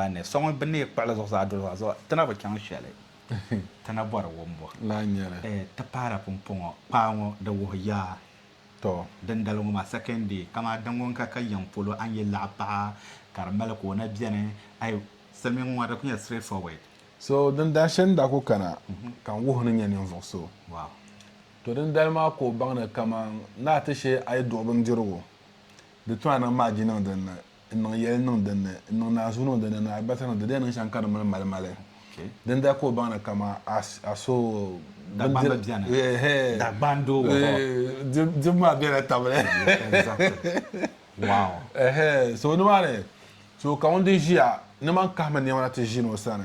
Baa ni so ŋun bi neei kpuɣili zuɣusaa doli zuɣa zuɣu, ti na bi chaŋ shɛli ti ni bɔri wumbu. Lahi nyɛli. Ti paara pumpɔŋɔ kpaa ŋɔ, di wuhi yaa Tɔ! Dindali ŋɔ maa, second day, kamaa din ŋun ka ka yiŋ polo, a ni yi laɣi paɣa ka di mali ka o na beni, ai, silimiiŋ ŋɔ di ku nyɛla straight forward. So din daa shɛli ni daa ku kana ka n wuhi ni nyɛ ninvuɣ so. Wow! Tɔ dindali maa ka o baŋ ni kaman naa ti shee a yi duɣi bindirigu, di tɔna niŋ maa ji niŋ dinni. n niŋ yɛli niŋ din ni, n niŋ naazuu niŋ din ni ni alibarisa niŋ di di yɛn niŋ shɛm ka di mini malimali. Din daa ka o baŋ ni kama a a so Dagbamba bindiri- bɛni. Ehe. Dagban doo wa hɔ. Eh, dim- dim maa bɛla tabili Exactly. Wow. Ehe, so nimaani so ka ŋun di ʒiya ni man kahimi nɛma na ti ʒini o sani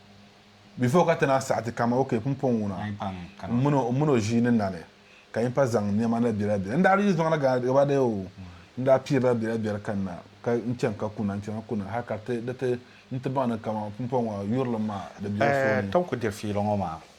Before ka ti na saɣiti ka ma, okay, pumpɔŋ ŋuna m min o ʒii ni na ni ka yimpa zaŋ nɛma na bela bela. N daa di yi zɔŋ na gaba daya oo, n daa piirila bela bela ka n na ka n chani ka kuna, n chana kuna hali ka di ti baŋ ni kaman pumpɔŋ ŋɔ yurilim maa di bela so ni. Tom ku diri fiila ŋɔ maa.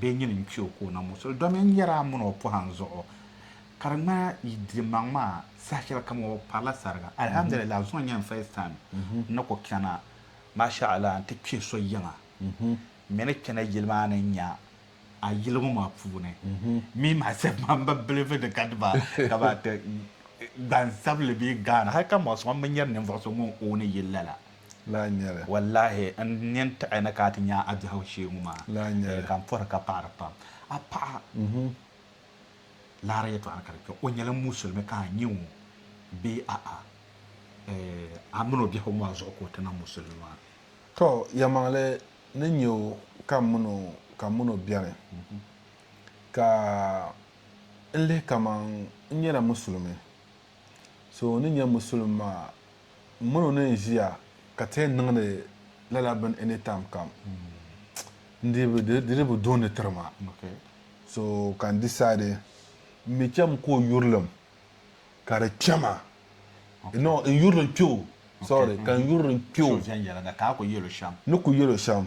Bɛ nyini n-kpi o ka o na muɣisi li domin n yɛri a mini o pɔhim zuɣu ka di ŋmana yi dimaŋ maa saha shɛlikam o bi parila sariga. Alhamdulillaah zuŋɔ n-nyɛ n first time n ni ku chana. Masha Allah nti kpi so yiŋa mi ni chana yili maa ni nya a yili ŋɔ maa puuni. Me myself maa m bi bilivi ni ka dima ka ban ti gbansabili bee Ghana hali ka muɣisi ŋɔ m bi nyari ninvuɣu so ŋun own yili lala. Lahi nya li. Wallahi n ni yɛn tiɣi ni ka a ti nya a biɛhigu shee ŋɔ maa. Lahi nya li. Ka n pɔhiri ka paɣiri pam. A paɣa laara yɛtɔɣa ni ka di kpe. O nyɛla musulimi ka a nya o bee a'a? Eh, a min o biɛhigu maa zuɣu ka o ti niŋ musulimi maa. Tɔ, yɛlimaŋli ni nya o ka m min o ka m min o beni. Ka n lihi kaman n nyɛla musulimi. so o ni nyɛ musulim maa m mini o ni n ʒiya ka ti yɛn niŋdi lala bini any time kam n dii bi di di bi duuni tiri ma so ka n decide n mi cham ka o yurilim ka di kpɛma no n yurilim kpɛ o sorry ka n yurilim kpɛ o ni ku yɛl o shɛm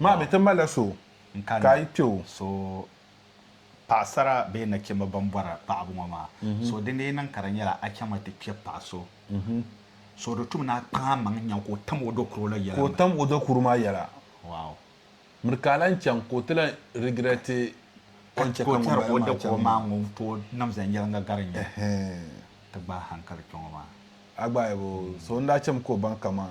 Maa mi ti malila so ka yi kpe o. So paɣasara bee nachimba ban bɔri paɣibu ŋɔ maa, so di ni yi niŋ ka di nyɛla a chaŋ mi ti kpe paɣa so, so di tum ni a kpaŋ a maŋ n-nya ka o tam o dokuro la yɛla. Ka o tam o dokuro maa yɛla. Wow. Miri ka a lan chaŋ ka o ti lan regretti o ni chɛ ka ŋun bala maa chaŋ maa. Ŋun tooi niŋ viɛnyɛliŋga gari n-nyɛ ti gbaai hankali kpe ŋɔ maa. A gbaai bo? So n-daa chɛ mi ka o baŋ kaman.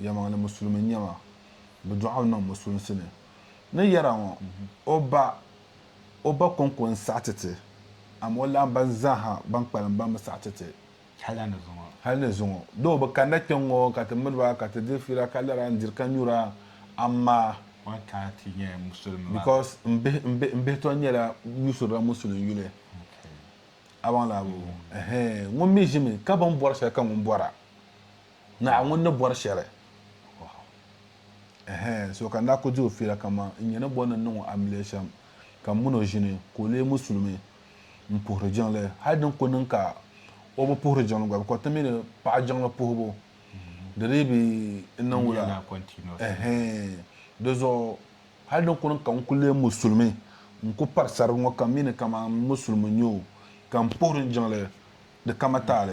yɛlimaŋli musulimi n-nyɛ ma, bɛ dɔɣi o niŋ musulinsi ni. Ni yɛra ŋɔ, o ba o ba kɔŋko n-saɣi ti ti, amaa o laɣim ban zaaha ban kpalim ban bi saɣi ti ti hal ni zuŋɔ. Doo o bi kanida kpiɔŋŋɔ ka ti miri ba ka ti diri fiila ka lara n-diri ka nyura, amaa because m bihi tɔ nyɛla yusurila musulin yuli. A baŋ laabu? Ɛhɛɛn! Ŋun mi ʒimi ka bini bɔri shɛli ka ŋun bɔra. Naawuni ni bɔri shɛli. Ɛhɛn, so ka n daa ku di o fiila kaman n nyini bɔ ni n niŋ o amiliya shɛm, ka m min o ʒini, ka o lee musulimi m-puhiri jiŋli, hal din ku niŋ ka o bi puhiri jiŋli gba, bikɔbi ti mi ni paɣa jiŋli puhibu, di dii bi niŋ wula? Ɛhɛn, di zuɣu hal din ku niŋ ka n ku lee musulimi, n ku pari sarigi ŋɔ ka m mi ni kaman musulimi n-nyɛ o, ka m puhiri n jiŋli di kama taali.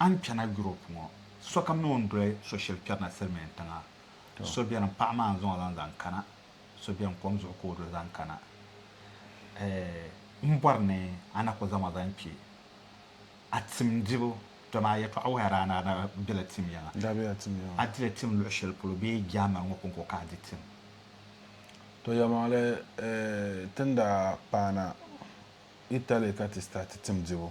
A ni kpɛna Europe ŋɔ, sokam ni o ni doli so shɛli kpɛrina Silimiin tiŋa. So beni paɣa maa n-zaŋ o lan zaŋ kana, so beni kom zuɣu ka o doli zaŋ kana. Ɛɛh! M bɔri ni a na ku zaŋ ma zaŋ kpe a tim dibu, dama a yɛtɔɣa wuhi a daa ni a daa bela tim yiŋa. N daa bela tim yiŋa. A dila tim luɣ shɛli polo bee German ŋɔ kɔŋko ka a di tim? Tɔ yɛlimaŋli, ɛɛh, ti ni daa paana Italy ka ti start tim dibu.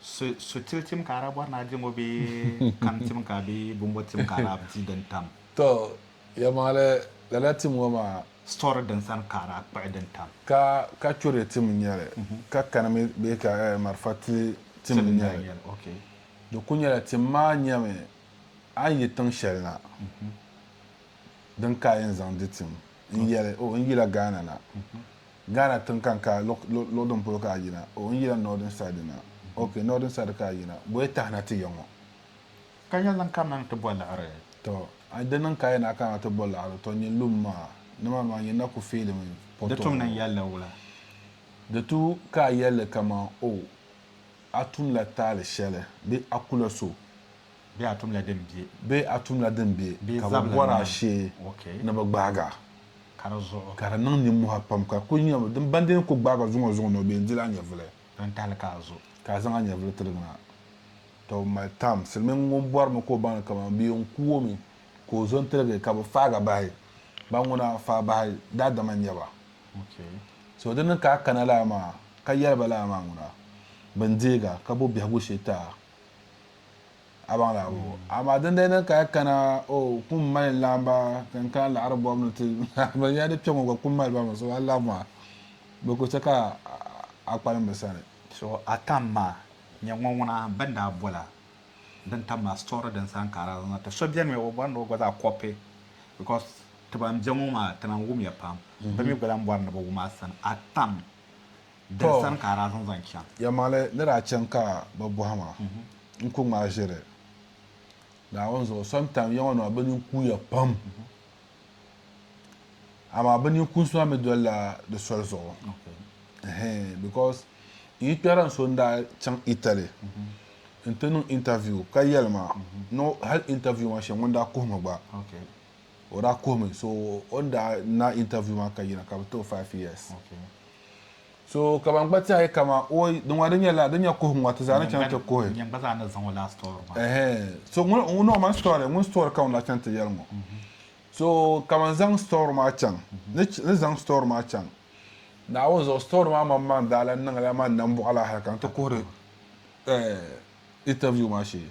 So tili tim ka a daa bɔri ni a di ŋɔ bee kam tim ka a bee bɔmbɔ tim ka a daa di din tam? Tɔ! Yɛlimaŋli, lala tim ŋɔ maa. Sitɔri din sani ka a daa kpuɣi din tam. Ka ka churi tim n-nyɛ li, ka kani mi bee ka marafa tili tim n-nyɛ li. Di kul nyɛla tim maa nyɛmi a ni yi tiŋ shɛli na din ka a yɛn zaŋ di tim n-yɛli, O, n yila Ghana na. Ghana tiŋ ka n ka luɣ din polo ka a yina o n yila northern side na ok northern side ka a yina boya tahi na ti ya ŋɔ. Ka nya lan kanna ni ti bɔ liɣiri. Tɔ a di niŋ ka a yɛn na kana ni ti bɔ liɣiri tɔ nyɛ lum maa nimaani maa nyɛ na ku feelimi pɔtɔɔ. Di tum ni n yɛli li wula? Di tu ka a yɛli li kaman oh a tum la taali shɛli bee a ku la so Bee a tumla din be. Bee a tumla din be Bee ka bɛ zabili bɔri a nini. shee Ok. ni bɛ gbaag a. Ka di zuɣu. Ka di niŋ nimmɔhi pam ka kul nya din ban di ni kul gbaag a zuŋɔ zuŋɔ ni o be n dil a nyɛvili. Din tahili ka a zo. Ka a zaŋ a nyɛvili tirig na. Tɔ m mali tam silimiŋ ŋun bɔrimi ka o baŋ ni kaman bɛ yɛn ku o mi ka o zo n-tirigi ka bɛ faag a bahi. Ban ŋuna faa bahi daadama n-nyɛ ba. Ok. So di ni ka a kana lala maa ka yɛli ba lala maa ŋuna. Bɛ ni deeg a ka bo biɛhigu shee ti a. a baŋ laɣibu ŋɔ, amaa dindali din ka kana, O kum mali n laɣim ba ka n kana laɣiri bɔbu ni ti lahi ba ya di kpe ŋɔ gba kum mali ba mi, so a laɣim maa bɛ ku chɛ ka a kpalim bɛ sani. So a tam maa, nyɛ ŋɔ ŋuna bɛn daa bol a din tam maa story din saha n ka a daa zaŋ na ti. So beni mi o bɔri ni o gba zaa copy because ti ban be ŋɔ maa ti lahi wum ya pam, bɛ mi gba lahi bɔri ni bɛ wum a sani, a tam. Tɔ! Yɛlimaŋli ni daa chaŋ ka bɛ bɔhi ma, N ku ŋmaai ʒiri Naawuni zuɣu sɔntaŋ ya ŋɔ ni maa, bɛ nini kuuya pam, amaa bɛ nini kuunsi maa mi dolila di soli zuɣu. Ɛhɛn, because n yikpɛhira n so n-daa chaŋ Italy nti niŋ interview ka yɛli ma ni hal interview maa shee ŋun daa kuhi mi gba. o daa kuhimi so o ni daa na interview maa ka yina ka bi ti o five years so ka ban gba tiɛhi kama o di ŋɔ di nyɛla di nyɛ kuhigu ŋɔ ti zaa ni chaŋ ti kuhi nyɛm gba zaa ni zaŋ o laa story maa ɛhɛn so ŋun ŋun o man story ŋun story ka ŋun la chaŋ ti yɛli ŋɔ so ka man zaŋ story maa chaŋ ni ch- ni zaŋ story maa chaŋ naawuni zuɣu story maa man man daa la niŋla man nambuɣa la hali ka n ti kuhiri eh, interview maa shee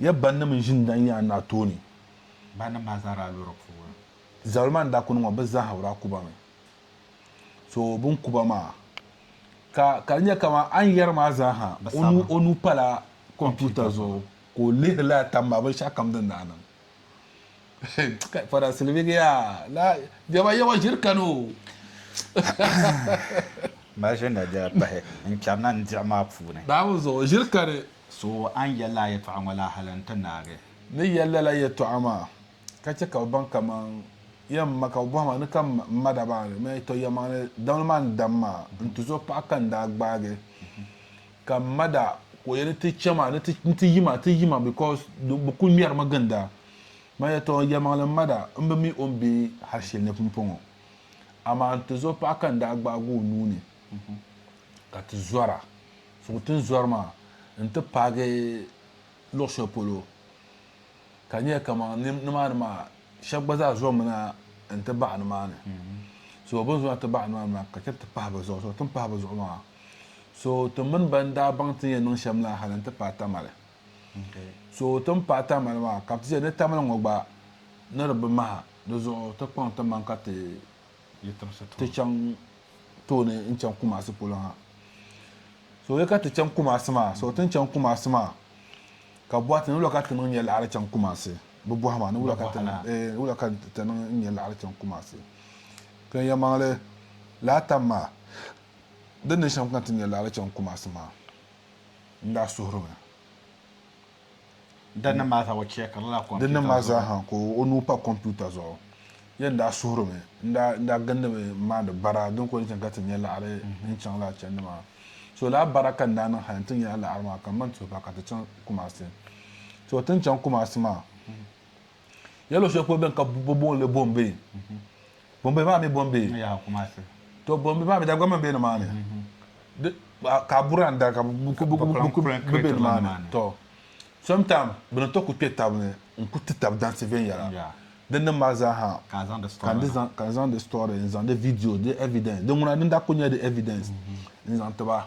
Ya bannim n ʒini dan yaɣi naa tooni. Bannim maa zaa daa lɔri puubu. Zabili maa ni daa kuni ŋɔ bɛ zaa ha bi daa kuba mi. So bɛ ni kuba maa ka ka di nyɛ kaman a ni yɛri maa zaa ha o nuu pala kompiuta zuɣu ka o lihiri lala tam maa binshɛɣu kam din daa niŋ. Kai Fada Silivigi yaa laa jɛma yawa ʒiri kani o. Maʒini daa pahi n-kpɛri na n diɣi maa puuni. Daa mi zuɣu ʒiri kani So a ni yɛl lala yɛtɔɣa ŋɔ la hal n-ti naagi? Ni yɛl lala yɛtɔɣa maa, ka chɛ ka bɛ baŋ kaman yɛn ma ka bɛ bɔhi ma ni ka m ma dabaa ni ma yɛtɔ yɛlimaŋli damli maa n-dam ma n-tuzo paɣa ka n daa gbaagi ka m ma daa ka o yɛli ni ti chɛ ma ni ti yi ma ti yi ma because bɛ kul ŋmɛri mi ginda. Ma yɛtɔ yɛlimaŋli m ma daa m bi mi o ni be hal shɛli ni pumpɔŋɔ, amaa n-tuzo paɣa ka n daa gbaagi o nuu ni ka ti zɔra. Suŋ tinzɔri maa n-ti paagi luɣ shɛli polo ka nyɛ kaman nimaani maa shɛb gba zaa zɔŋmi na n-ti baɣi nimaani. So bɛ ni zo na ti baɣi nimaani maa ka chani ti pahi bɛ zuɣu. So ti ni pahi bɛ zuɣu maa so ti mini bɛn daa baŋ ti ni yɛn niŋ shɛm la hali n-ti paai Tamale. So ti ni paai Tamale maa ka bɛ ti chɛ ni Tamale ŋɔ gba ni di bi maha di zuɣu ti kpaŋ timaŋ ka ti ti chaŋ tooni n chaŋ Kumasi polo ha so ya ka ti chaŋ Kumasi maa so tin chaŋ Kumasi maa ka bɔhi ti ni wula ka ti niŋ nyɛ laɣiri chaŋ Kumasi bi bɔhi maa ni wula ka ti ni wula ka ti niŋ nyɛ laɣiri chaŋ Kumasi ka ya maŋli laa tam maa di ni shɛm ka ti nyɛ laɣiri chaŋ Kumasi maa n daa suhiri mi. Dinni maa zaa o chɛkirila kɔmputa zuɣu. Dinni maa zaa ha ka o nuu pa kɔmputa zuɣu. Yɛn daa suhirimi n-daa gindimi m-maandi bara din kuli ni chaŋ ka ti nya laɣiri din chaŋ lala chandi maa. So lala bara ka n daa niŋ hali nti nya laɣiri maa ka m ma n-tuhi ba ka ti chaŋ Kumasi. So ti ni chaŋ Kumasi maa. Nyɛ luɣushɛli polo bɛn ka bɛ booni li Bombay. Bombay maa mi Bombay. To Bombay maa mi daa gba mi be nimaani. Ka a buri andari ka bɛ ku be nimaani. To sometime bɛ ni to ku kpe tab ni n-ku ti tab dansi viɛnyɛla. Di nim maa zaa ha ka n zaŋ di story n-zaŋ di video, di evidence, di ŋuna din daa kuli nyɛla di evidence n-zaŋ ti ba.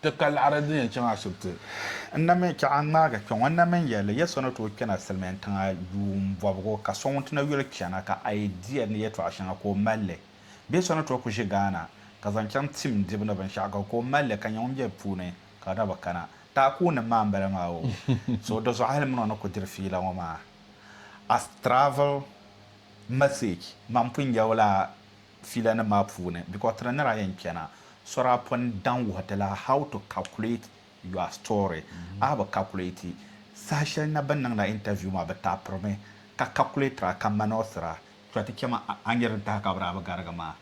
Ti ka laɣiri din yɛn chaŋ ashibiti. N na mi chɛɣu ŋmaagi kpɛŋɔ n na mi yɛli li ya so ni tooi kpɛna silimiin tiŋa yuun bɔbigu ka so ŋun ti na yuli chana ka a yi di ya ni yɛtɔɣa shɛŋa ka o mali li bee so ni tooi ku ʒi Ghana ka zaŋ chaŋ tim dibu ni binshɛɣu ka ka o mali li ka nya ŋun be bɛ puuni ka di na bi kana taa ka o nim maa m-bala maa o so di zuɣu hali min o ni ku diri fiila ŋɔ maa as travel message man pun yawla filanim maa puuni because ti di nira yɛn kpɛna sori a pun daŋ wuhi ti la how to calculate your story a bi calculate saha shɛli na bɛ niŋla interview maa bɛ taapirimi ka calculate a ka manɔsira. To ti chɛma a ni nyɛ din tahi ka bɛ daa bi garigi maa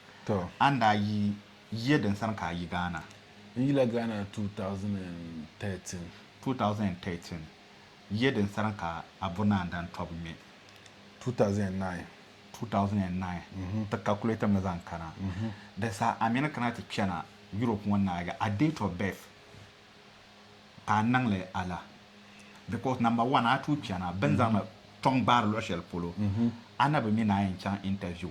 a ni daa yi yiya din sani ka a yi Ghana? N yila Ghana 2013. 2013 yiya din sani ka a bo naan dan tɔbu ŋmɛ? 2009. 2009 n ti calculate mi zaŋ kana di saha a mini kana ti kpɛna Europe ŋɔ naagi a date of birth ka a niŋli ala because number one a tuui kpɛna bini zaŋli tɔŋ gbaari luɣi shɛli polo a na bi mi ni a yɛn chaŋ interview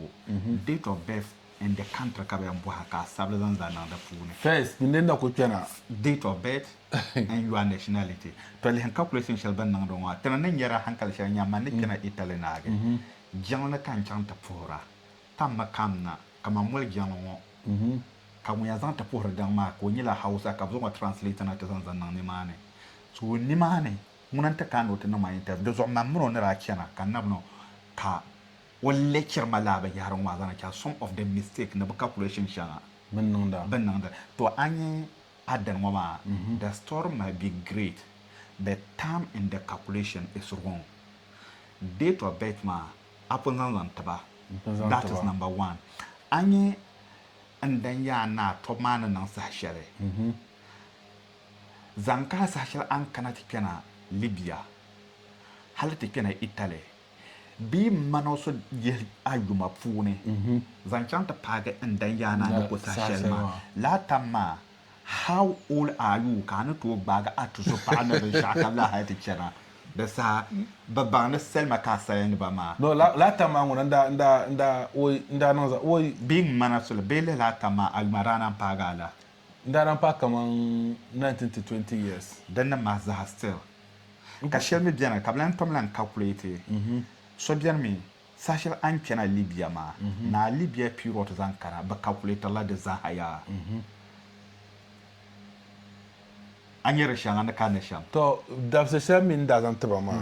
date of birth N de kantiri ka bɛ yɛn bɔhi a ka a sabili zaŋ zaa niŋ di puuni. First, ŋun ni na ku kpɛna. Date of birth and your nationality. Tolihi calculation shɛli bɛ niŋdi ŋɔ, ti ni ni nyari a hankali shɛli nya man ni kpɛna Italy naagi jiŋli ni ka n chaŋ ti puhir a tammi kamina kaman moli jiŋli ŋɔ, ka ŋun yɛn zaŋ ti puhiri daŋ maa ka o nyɛla Hausa ka bɛ zaŋ o translate na ti zaŋ zaŋ niŋ nimaani. So nimaani ŋuna n-ti kaai ni o ti niŋ ma interview. Di zuɣu man mini o ni daa chana ka n na bi niŋ ka. O lecture ma laa binyɛhiri ŋɔ maa zaŋ na chaŋ some of the mistake ni bi calculation shɛŋa bini niŋda. To a nya pattern ŋɔ maa the story might be great but time in the calculation is wrong. Date of birth maa a pun zaŋ zaŋ tiba that is number one. A nya n dan yaa ni a tɔbu maa ni niŋ saha shɛli zaŋ kana saha shɛli a ni kana ti kpɛna Libya hali ti kpɛna Italy bee m mani o so yihi a yuma puuni zaŋ chaŋ ti paagi n danyaana ni ko saha shɛli maa. Laa tam maa, How old are you? ka a ni tooi gbaagi a tuzo paɣa ni binshɛɣu ka lahi hali ti chana. Di saha, bɛ baŋ ni salima ka a sali ni ba maa. No, laa tam maa ŋuna n-daa oi, n-daa niŋ zaɣ oi. Bee m mani a soli, bee lihi laa tam maa, a yuma daa naan paagi a la. N daa lan paai kaman nineteen to twenty years. Din ni mahi zaha still ka shɛli mi beni ka bɛ lan tom lan calculate so beni mi saha shɛli a ni kpɛna Libya maa ni a Libya period zaŋ kana bɛ calculatirila di zaha yaa a nya di shɛŋa ni ka ni shɛm. Tɔ dabisi shɛli mi ni daa zaŋ ti ba maa.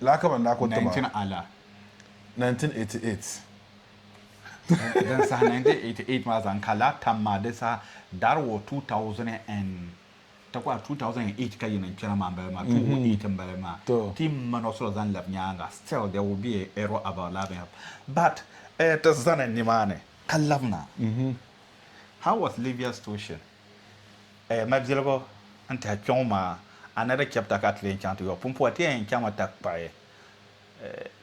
laa ka ban daa kɔŋ ti ba. 19 Ala. 1988. Din saha 1988 maa zaŋ ka laa tam maa di saha dari wɔ 2008 2008 ka yi niŋ kpɛra maa m-bala maa 2008 m-bala maa ti ma nɔsura zaŋ labi nyaaŋa still there will be a error about laa binyɛra but ti zani nimaani ka labina how was Libya station? Ɛɛ mabiligu n tihi kpɛŋɔ maa, a ni di chɛbita ka a ti lee chaŋ ti yɔbu pumpɔŋɔ, ti yɛn chaŋmi takkpaɣi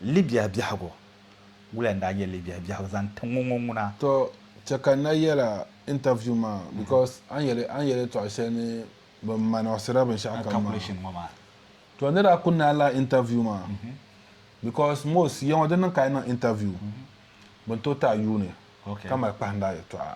Libia biɛhigu. Wula n-daa nyɛ Libia biɛhigu zaŋ ti ŋɔ ŋuna? Tɔ, chɛ ka n na yɛla interview maa because a ni yɛli a ni yɛli yɛltɔɣa shɛli ni bɛ manɔgisira binshɛɣu kam maa. Tɔ, n ni daa kuli naai lahi interview maa because most yiŋɔ di niŋ ka a yi niŋ interview bɛ ni tooi ti a yuuni ka mali kpahindaa yɛltɔɣa.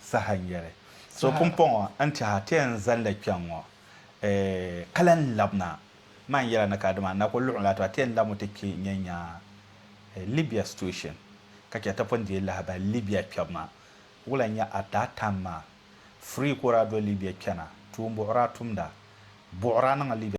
saha n-yɛli, So pumpɔŋɔ n-tɛha ti yɛn zanda kpɛŋŋɔ, ka lan lab na. Maa n-yɛla ni ka dima na ku luɣim la ti ba, ti yɛn labimi ti kpe n-yɛn nya Libya situation, ka chɛ ti pun deei lahibali Libya kpɛbu maa. Wula n-nyɛ at that time maa? Free ka o daa do Libya kpɛna, tuumbuɣira tumda, buɣira niŋ Libya.